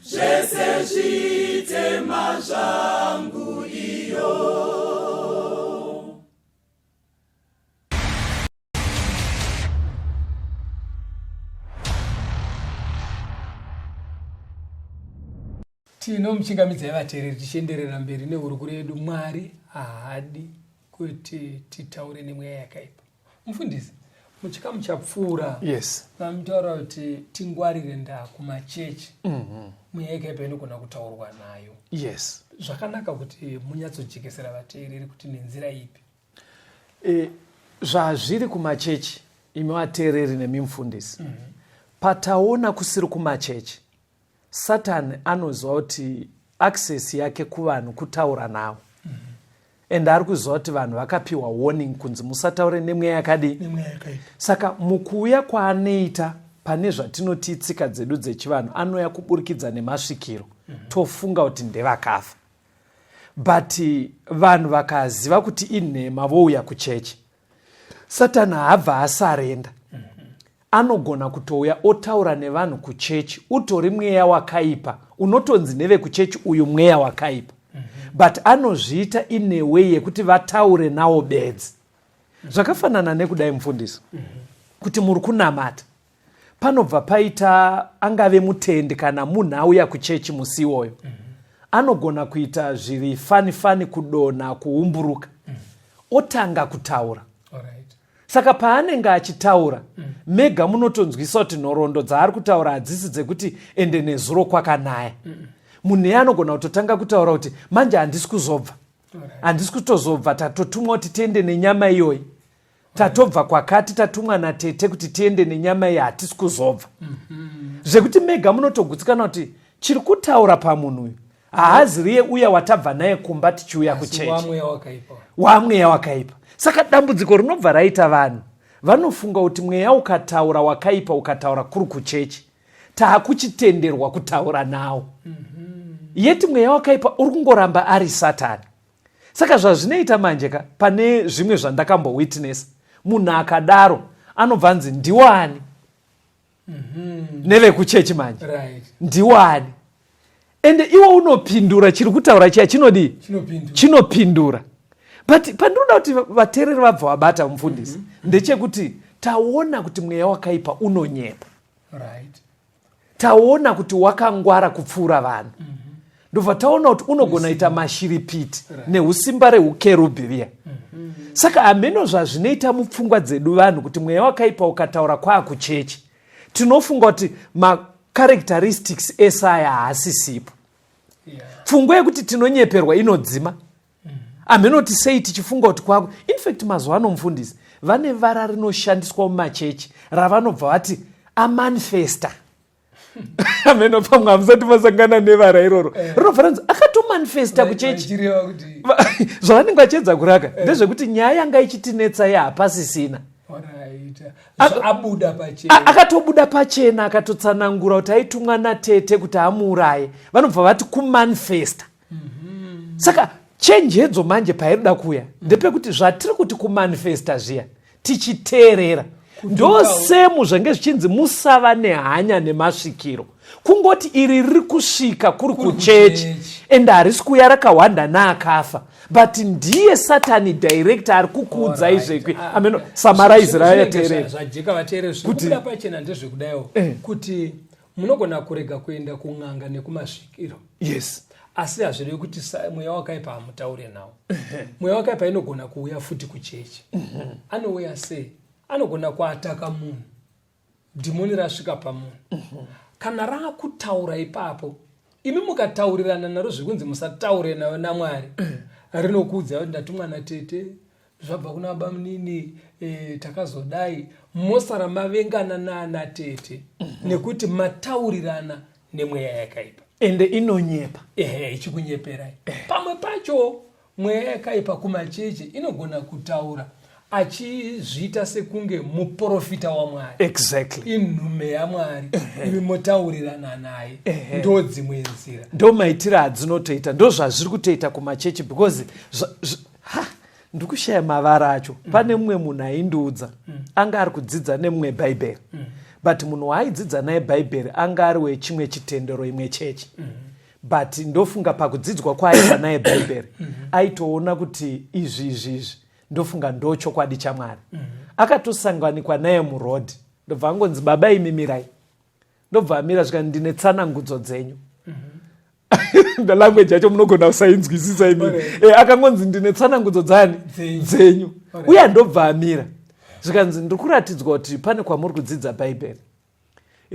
zvese zvitema zvangu iyo tinomuchingamidzai vateereri tichienderera mberi nehurukuro yedu mwari haadi kuti titaure nemweya yakaipa mufundisi muchikamu chapfuura yes mamitaura kuti tingwarire ndaa kumachechi mm-hmm. mweya mm -hmm. ikaipa inogona kutaurwa nayo yes zvakanaka kuti munyatsojekesera vateereri kuti nenzira ipi e, zvazviri kumachechi imi vateereri nemi mfundisi mm -hmm. pataona kusiri kumachechi satani anoziva kuti access yake kuvanhu kutaura navo and ari kuziva kuti vanhu vakapiwa warning kunzi musataure nemweya yakadii saka mukuuya kwaanoita pane zvatinoti itsika dzedu dzechivanhu anouya kuburikidza nemasvikiro mm -hmm. tofunga kuti ndevakafa but vanhu vakaziva kuti inhema vouya kuchechi Satani haabva asarenda. Anogona kutouya otaura nevanhu kuchechi, utori mweya wakaipa, unotonzi nevekuchechi uyu mweya wakaipa. But anozviita in a way yekuti vataure nawo bedzi. Zvakafanana nekudai mufundisi. Kuti muri kunamata. panobva paita angave mutendi kana munhu auya kuchechi musi iwoyo mm -hmm. anogona kuita zviri fani fani kudonha kuumburuka mm -hmm. otanga kutaura right. saka paanenge achitaura mm -hmm. mega munotonzwisa kuti nhoroondo dzaari kutaura hadzisi dzekuti ende nezuro kwakanaya mm -hmm. munhu iye anogona kutotanga kutaura kuti manje handisi kuzobva handisi right. kutozobva tatotumwa kuti tiende nenyama iyoyi tatobva kwakati tatumwa natete kuti tiende nenyama iyi hatisi kuzobva mhm. zvekuti mega munotogutsikana kuti chiri kutaura pamunhu uyu haaziriye uya watabva naye kumba tichiuya kuchechi wamweya wakaipa saka dambudziko rinobva raita vanhu vanofunga kuti mweya ukataura wakaipa ukataura kuri kuchechi taakuchitenderwa kutaura nawo mhm. yeti mweya wakaipa uri kungoramba ari satani saka zvazvinoita manje ka pane zvimwe zvandakambowitness munhu akadaro anobva anzi ndiwani mm -hmm. nevekuchechi manje right. ndiwani ende iwe unopindura chiri kutaura chiya chinodii chinopindura but pandinoda kuti vateereri vabva vabata mufundisi mm -hmm. ndechekuti taona kuti mweya wakaipa unonyepa right. taona kuti wakangwara kupfuura vanhu mm -hmm. ndobva taona kuti unogona ita mashiripiti right. neusimba reukerubhi riya mm -hmm. saka hameno zvazvinoita mupfungwa dzedu vanhu kuti mweya wakaipa ukataura kwaakuchechi tinofunga kuti macharacteristics ese aya haasisipo yeah. pfungwa yekuti tinonyeperwa inodzima hamheno kuti sei tichifunga kuti kwako infact mazuva ano mufundisi vane vara rinoshandiswa mumachechi ravanobva vati amanifesta ameno pamwe hamusati masangana nevara iroro eh. rinobva ranzi akatomanifesta kuchechi zvavanenge vachiedza kuraka eh. ndezvekuti nyaya yanga ichitinetsa ye hapasisina akatobuda pachena akatotsanangura kuti aitumwa natete kuti amuuraye vanobva vati kumanifesta saka chenjedzo manje pairida kuya ndepekuti zvatiri kuti kumanifesta zviya tichiteerera ndosemu zvenge zvichinzi musava nehanya nemasvikiro kungoti iri riri kusvika kuri kuchechi and harisi kuya rakahwanda naakafa but ndiye satani director ari kukuudzai zvekwi ah, ameno ah, samarizira yateerera kuti eh. munogona kurega kuenda kun'anga nekumasvikiro yes asi hazvirevi kuti mweya wakaipa hamutaure nawo mweya wakaipa inogona kuuya futi kuchechi mhm. anouya sei anogona kuataka munhu dhimoni rasvika pamunhu mhm. kana raakutaura ipapo imi mukataurirana naro zvekunzi musataure nayo namwari mhm. rinokuudza kuti ndatumwa natete zvabva kuna bamunini e, takazodai mosara mavengana naana tete mm -hmm. nekuti mataurirana nemweya yakaipa ende inonyepa ehe ichikunyeperai eh. pamwe pacho mweya yakaipa kumacheche inogona kutaura achizviita sekunge muprofita wamwari exactly inhume yamwari imi motaurirana naye ndo dzimwe nzira ndo maitiro adzinotoita ndo zvazviri kutoita kumachechi because ha ndikushaya mavara acho mm. pane mumwe munhu aindiudza mm. anga ari kudzidza nemumwe bhaibheri mm. but munhu waaidzidza naye bhaibheri anga ari wechimwe chitendero imwe chechi mm. but ndofunga pakudzidzwa kwaaiva naye bhaibheri mm. aitoona kuti izvi izvi izvi ndofunga ndo chokwadi chamwari mm. akatosanganikwa naye muroad ndobva angonzi baba imimirai ndobva amira zvikanzi ndine tsanangudzo dzenyu mhm. ndalanguage yacho munogona kusainzwisisa imi eh, akangonzi ndine tsanangudzo dzani dzenyu uye andobva amira zvikanzi ndiri kuratidzwa kuti pane kwamuri kudzidza bhaibheri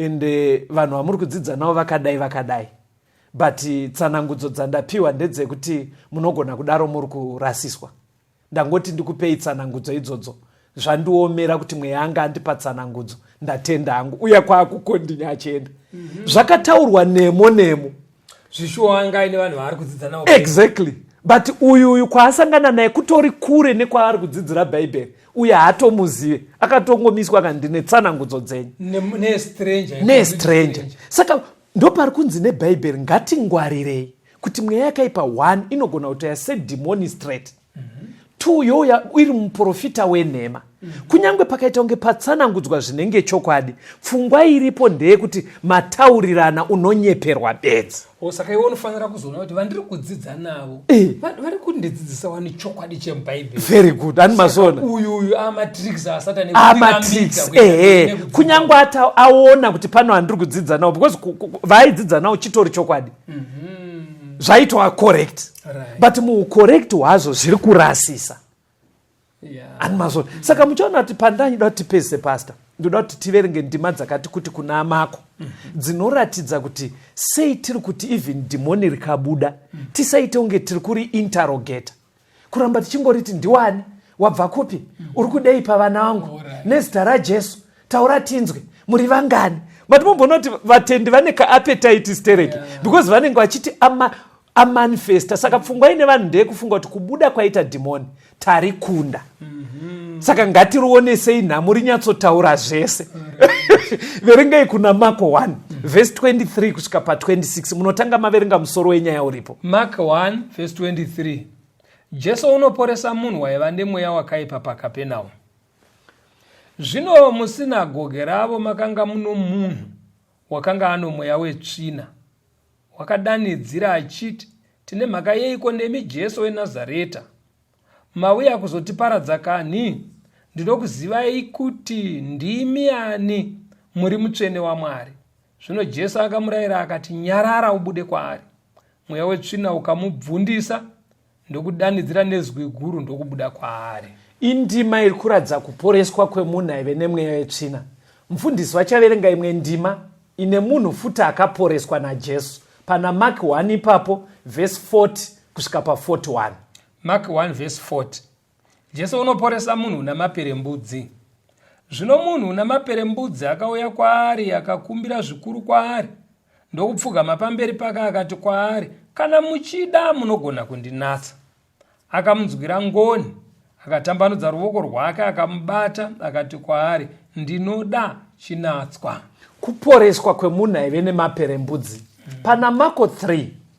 and eh, vanhu vamuri kudzidza navo vakadai vakadai but tsanangudzo dzandapiwa ndedzekuti munogona kudaro muri kurasiswa ndangoti ndikupei tsanangudzo idzodzo zvandiomera kuti mweya anga andipa tsanangudzo ndatenda hangu uya kwaakukondinya achienda mm -hmm. zvakataurwa nemo nemo zvishuwa anga aine vanhu vaari kudzidza navo exactly but uyu uyu kwaasangana naye kutori kure nekwaari kudzidzira bhaibheri uye haatomuzive akatongomiswa kandine tsanangudzo dzenyu nestranger saka Ndopari kunzi nebhaibheri ngatingwarirei kuti mweya yakaipa one inogona kutouya sedhimoni straight mm -hmm. two youya iri muprofita wenhema mm -hmm. kunyange pakaita kunge patsanangudzwa zvinenge chokwadi pfungwa iripo ndeyekuti mataurirana unonyeperwa bedzi oh, saka iwe unofanira kuzoona kuti vandiri kudzidza navo Eh. vari kundidzidzisa wani chokwadi chemubhaibheri very good ani mazona uyu uyu amatricks asatani amatricks ehe kunyange ati aona kuti pano handiri kudzidza nawo because vaidzidza nawo chitori chokwadi mhm. zvaitwa correct but muucorrect hwazvo zviri kurasisa yeah. ani mazona mm. saka muchaona kuti pandani ndoda kuti pese pasta ndoda kuti tiverenge ndima dzakati kuti kuna amako mm -hmm. dzinoratidza kuti sei tiri kuti even dhimoni rikabuda mm -hmm. tisaite kunge tiri kuri interrogata kuramba tichingoriti ndiwani wabva kupi mm -hmm. uri kudei pavana vangu right. nezita rajesu taura tinzwe muri vangani vati momboona kuti vatendi vane kaapetiti stereki yeah. because vanenge vachiti ama amanifesta saka pfungwa ine vanhu ndeyekufunga kuti kubuda kwaita dhimoni tari kunda mm -hmm. saka ngatirionesei nhamo rinyatsotaura zvese mm -hmm. verengei kuna mako 1 mm -hmm. vhesi 23 kusvika pa 26 munotanga maverenga musoro wenyaya uripo mak 1 vhesi 23 jesu unoporesa munhu waiva nemweya wakaipa pakapenawo zvino musinagoge ravo makanga muno munhu wakanga ano mweya wetsvina Wakadanidzira achiti, Tine mhaka yeiko nemi Jesu weNazareta? Mauya kuzotiparadza kanhi? Ndinokuzivai kuti ndimi ani, muri mutsvene waMwari. Zvino Jesu akamurayira akati, Nyarara ubude kwaari. Mweya wetsvina ukamubvundisa, ndokudanidzira nezwi guru ndokubuda kwaari indima iri kuratidza kuporeswa kwemunhu aive nemweya yetsvina mufundisi vachaverenga imwe ndima ine munhu futi akaporeswa najesu pana mark 1 ipapo vhesi 40 kusvika pa 41 mark 1 vhesi 40 Jesu unoporesa munhu una maperembudzi. Zvino munhu una maperembudzi akauya kwaari akakumbira zvikuru kwaari ndokupfugama pamberi pake akati kwaari, Kana muchida munogona kundinatsa. Akamunzwira ngoni, akatambanudza ruvoko rwake akamubata, akati kwaari, Ndinoda chinatswa. Kuporeswa kwemunhu aive nemaperembudzi. Pana Mako 3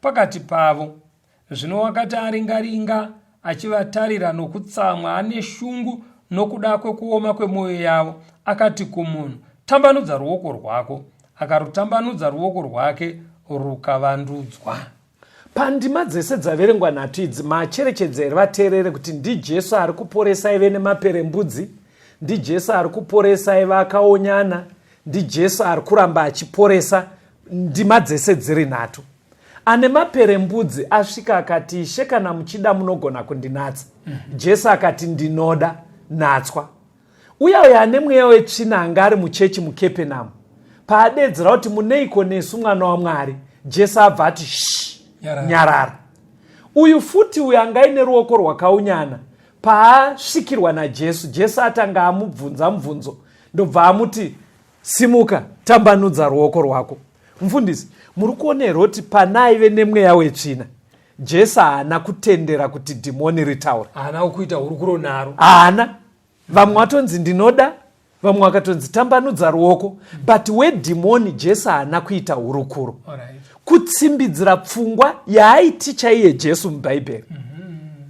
pakati pavo. Zvino wakati aringa-ringa achivatarira nokutsamwa ane shungu nokuda kwekuoma kwemwoyo yavo, akati kumunhu, Tambanudza ruoko rwako. Akarutambanudza ruoko rwake rukavandudzwa. Pandima dzese dzaverengwa nhatu idzi, maacherechedza here vateerere kuti ndiJesu ari kuporesa ive nemaperembudzi? NdiJesu ari kuporesa ive akaonyana? NdiJesu ari kuramba achiporesa? Ndima dzese dziri nhatu. Ane maperembudzi asvika akati, Ishe, kana muchida munogona kundinatsa. Mm -hmm. Jesu akati, Ndinoda, natswa. Uya uyo ane mweya wetsvina anga ari muchechi muKepenamu. Paadeedzera kuti muneiko nesu mwana waMwari, Jesu abva ati, Shh, nyarara. nyarara. Uyu futi uyo anga aine ruoko rwakaunyana paasvikirwa najesu jesu atanga amubvunza mubvunzo ndobva amuti Simuka, tambanudza ruoko rwako. Mfundisi, muri kuona here kuti pana aive nemweya wetsvina jesu haana kutendera kuti dhimoni ritaure haana kuita hurukuro naro haana vamwe vatonzi ndinoda vamwe vakatonzi tambanudza ruoko but wedhimoni jesu haana kuita hurukuro kutsimbidzira pfungwa yaaiti chaiye jesu mubhaibheri mm -hmm.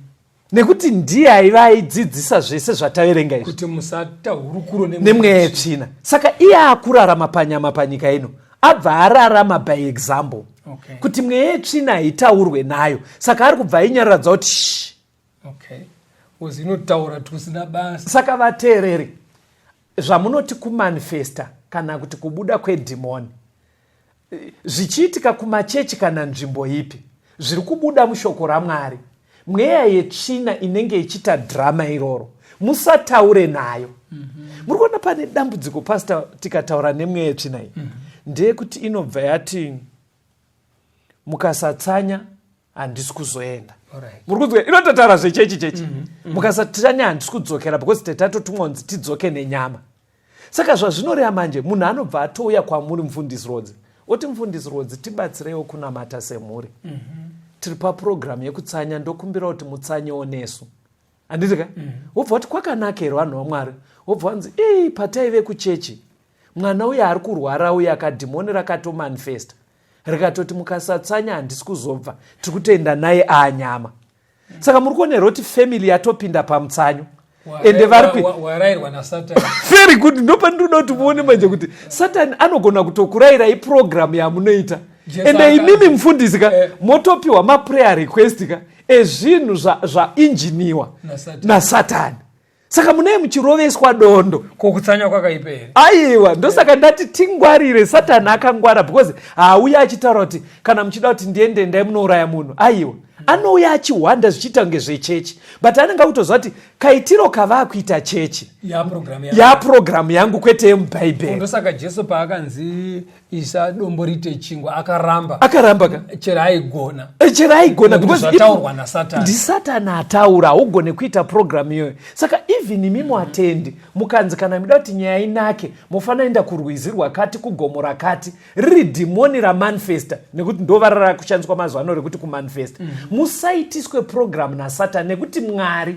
nekuti ndiye aiva aidzidzisa zvese zvataverenga izvikuti musata hurukuro nemweya yetsvina saka iye akurarama panyama panyika ino abva ararama by example okay. kuti mweya yetsvina haitaurwe nayo saka ari kubva ainyararadza kuti sh okay. inotaura tusina basa saka vateereri zvamunoti kumanifesta kana kuti kubuda kwedhimoni zvichiitika kumachechi kana nzvimbo ipi zviri kubuda mushoko ramwari mweya yetsvina inenge ichiita drama iroro musataure nayo mm-hmm. muri kuona pane dambudziko pasta tikataura nemweya yetsvina iyi mm-hmm. ndeyekuti inobva yati mukasatsanya handisi kuzoenda muri kunzwa inototaura zvechechi chechi mhm, mhm. mukasati tani handisi kudzokera because tetatotumwa kunzi tidzoke nenyama saka zvazvinoreva manje munhu anobva atouya kwamuri mufundisi rodzi oti mufundisi rodzi tibatsireiwo kunamata semhuri mhm. tiri papurogiramu yekutsanya ndokumbira kuti mutsanyewo nesu handiti ka wobva wati kwakanakero vanhu vamwari wobva wanzi ii pataive kuchechi mwana uye ari kurwara uye akadhimoni rakatomanifesta rikatoti mukasatsanya handisi kuzobva tiri kutoenda naye aanyama saka muri kuonerwa kuti family yatopinda pamutsanyo ende varikuwarairwa nasatani very good ndopandirikuda kuti muone manje kuti satani anogona kutokurayirai purogiramu yamunoita ende imimi mufundisi ka eh. motopiwa maprayer request ka ezvinhu zvainjiniwa nasatani saka munei muchiroveswa dondo ko kutsanya kwakaipa here aiwa ndosaka ndati tingwarire satani akangwara because haauya achitaura kuti kana muchida kuti ndiende ndai munouraya munhu aiwa anouya achihwanda zvichiita kunge zvechechi but anenge akutoziva kuti kaitiro kavaakuita chechi yapurogiramu yangu kwete yemubhaibheri ndosaka jesu paakanzi isa dombo rite chingwa akaramba akaramba ka chero aigona eh, chero aigona zvataurwa nasatani ndisatani ataura haugone kuita programu iyoyo saka even imi muatendi mm -hmm. mukanzi kana mida kuti nyaya inake mofanira enda kurwizi rwakati kugomo rakati riri dhimoni ramanifesta nekuti ndovara rakushandiswa mazuva ano rekuti kumanifesta mm -hmm. musaitiswe programu nasatani nekuti mwari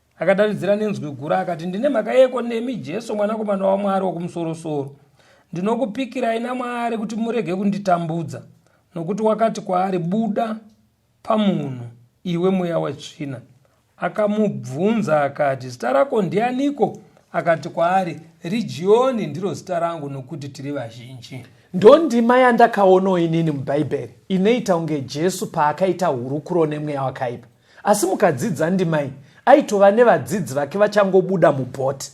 Akadanidzira nenzwi guru akati, Ndine mhaka yeko nemi, Jesu, Mwanakomana waMwari wokumusorosoro. Ndinokupikirai naMwari kuti murege kunditambudza. Nokuti wakati kwaari, Buda pamunhu, iwe mweya wetsvina. Akamubvunza akati, Zita rako ndianiko? Akati kwaari, Rijioni ndiro zita rangu, nokuti tiri vazhinji. Ndondima yandakaonawo inini muBhaibheri inoita kunge Jesu paakaita hurukuro nemweya wakaipa. asi mukadzidzi andimai aitova nevadzidzi vake vachangobuda mubhoti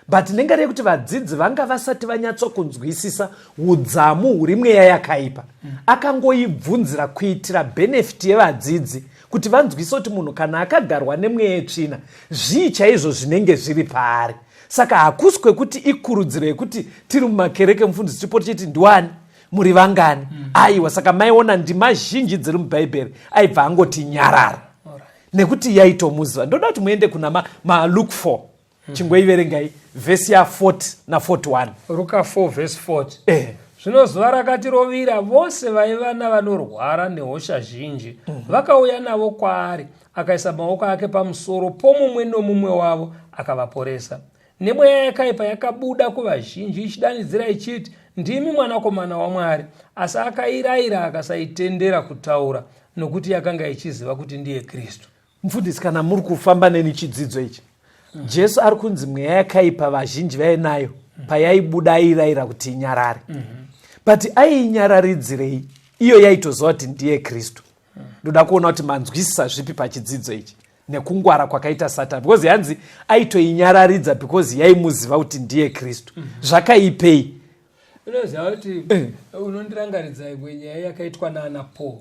but nengari yekuti vadzidzi vanga vasati vanyatsokunzwisisa udzamu huri mweya yakaipa akangoibvunzira kuitira bhenefiti yevadzidzi kuti vanzwise kuti munhu kana akagarwa nemweya yetsvina zvii chaizvo zvinenge zviri paari saka hakusi kwekuti ikurudziro yekuti tiri mumakereke mufundisi chipoto chiti ndiwani muri vangani mm. aiwa saka maiona ndima zhinji dziri mubhaibheri aibva angoti nyarara right. nekuti yaitomuziva ndoda kuti muende kuna malook ma for mm. chingoiverengai vhesi ya 40 na 41 ruka 4 vhesi 40 eh. zvino zuva rakati rovira vose vaiva navanorwara nehosha zhinji mm -hmm. vakauya navo kwaari akaisa maoko ake pamusoro pomumwe nomumwe wavo akavaporesa nemweya yakaipa yakabuda kuvazhinji ichidanidzira ichiti ndimi mwanakomana wamwari asi akairayira akasaitendera kutaura nokuti yakanga ichiziva kuti ndiye kristu mfundisi kana muri kufamba neni chidzidzo ichi mm. jesu ari kunzi mweya yakaipa vazhinji vainayo mm. payaibuda airayira kuti inyarare mm -hmm. but aiinyararidzirei iyo yaitoziva kuti ndiye kristu mm. ndoda kuona kuti manzwisisa zvipi pachidzidzo ichi nekungwara kwakaita satani because hanzi aitoinyararidza because yaimuziva kuti ndiye kristu mm -hmm. zvakaipei unoziva kuti eh. unondirangaridza imwe nyaya yakaitwa naana paul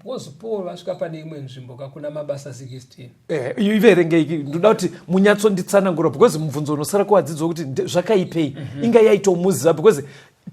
because paul vasvika pane imwe nzvimbo kakuna mabasa 16 iverengei ndoda kuti munyatsonditsanangura because mubvunzo unosara kuvadzidzo wekuti zvakaipei mhm. inga yaitomuziva because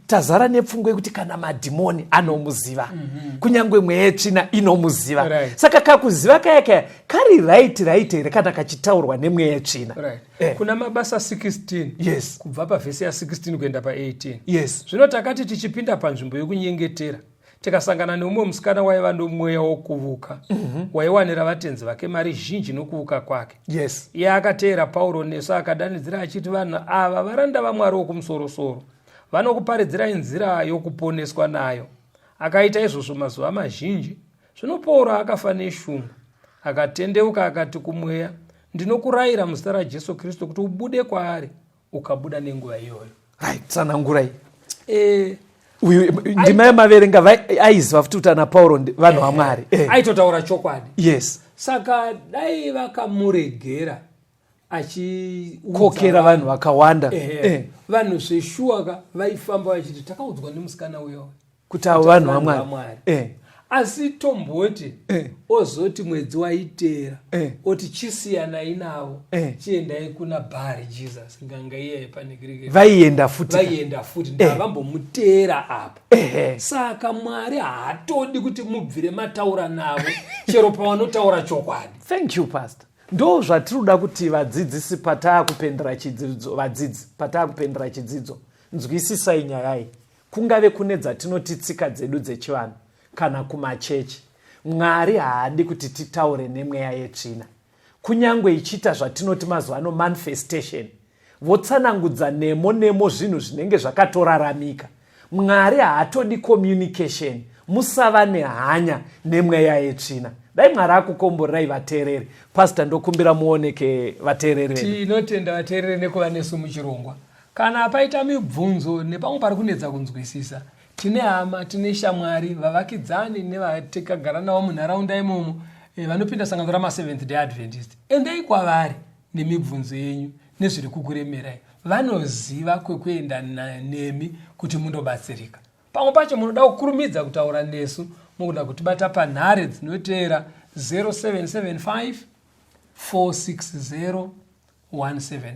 tazara nepfungwa yekuti kana madhimoni anomuziva mm -hmm. kunyange mweya yetsvina inomuziva right. saka kakuziva kaya kaya kari right right here kana kachitaurwa nemweya yetsvina right. eh. kuna mabasa 16 yes. kubva pavhesi ya 16 kuenda pa18 yes. zvino takati tichipinda panzvimbo yokunyengetera tikasangana neumwe musikana waiva nomweya wokuvuka mm -hmm. waiwanira vatenzi vake mari zhinji nokuvuka kwake yes iye akateera pauro nesu akadanidzira achiti vanhu ava varanda vamwari wokumusorosoro vanokuparidzirai nzira yokuponeswa nayo akaita izvozvo mazuva mazhinji zvino pauro akafa neshungu akatendeuka akati kumweya ndinokurayira muzita rajesu kristu kuti ubude kwaari ukabuda nenguva iyoyo right tsanangurai eh uyu ndima yamaverenga aiziva futi kuti ana pauro vanhu eh, vamwari eh. aitotaura chokwadi yes saka dai vakamuregera achikokera vanhu vakawanda eh, vanhu zveshuwa ka vaifamba vachiti takaudzwa nemusikana uyo kuti avo vanhu vamwari eh. asi tomboti eh. ozoti mwedzi waiteera eh. oti chisiyanai navo eh. chiendai kuna bhari jesus nganga iyaye pane grike vaienda futi vaienda futi eh. ndavambomuteera apa eh, eh. saka mwari haatodi kuti mubvire mataura navo chero pavanotaura chokwadi thank you pastor ndo zvatinoda kuti vadzidzisi pataa kupendera chidzidzo vadzidzi pataa kupendera chidzidzo nzwisisai nyaya iyi kungave kune dzatinoti tsika dzedu dzechivanhu kana kumachechi mwari haadi kuti titaure nemweya yetsvina kunyange ichiita zvatinoti mazuva ano manifestation votsanangudza nemo nemo zvinhu zvinenge zvakatoraramika mwari haatodi communication musava nehanya nemweya yetsvina dai mwari akukomborerai vateereri pasta ndokumbira muoneke vateereri tinotenda vateereri nekuva nesu muchirongwa Kana paita mibvunzo nepamwe pari kunetsa kunzwisisa, tine hama, tine shamwari, vavakidzani nevatikagara navo munharaunda imomo eh, vanopinda sangano ramaseventh day adventist. Endai kwavari nemibvunzo yenyu nezviri kukuremerai. Vanoziva kwekuenda nemi kuti mundobatsirika. Pamwe pacho munoda kukurumidza kutaura nesu mugona kutibata panhare dzinoteera 0775 460 175.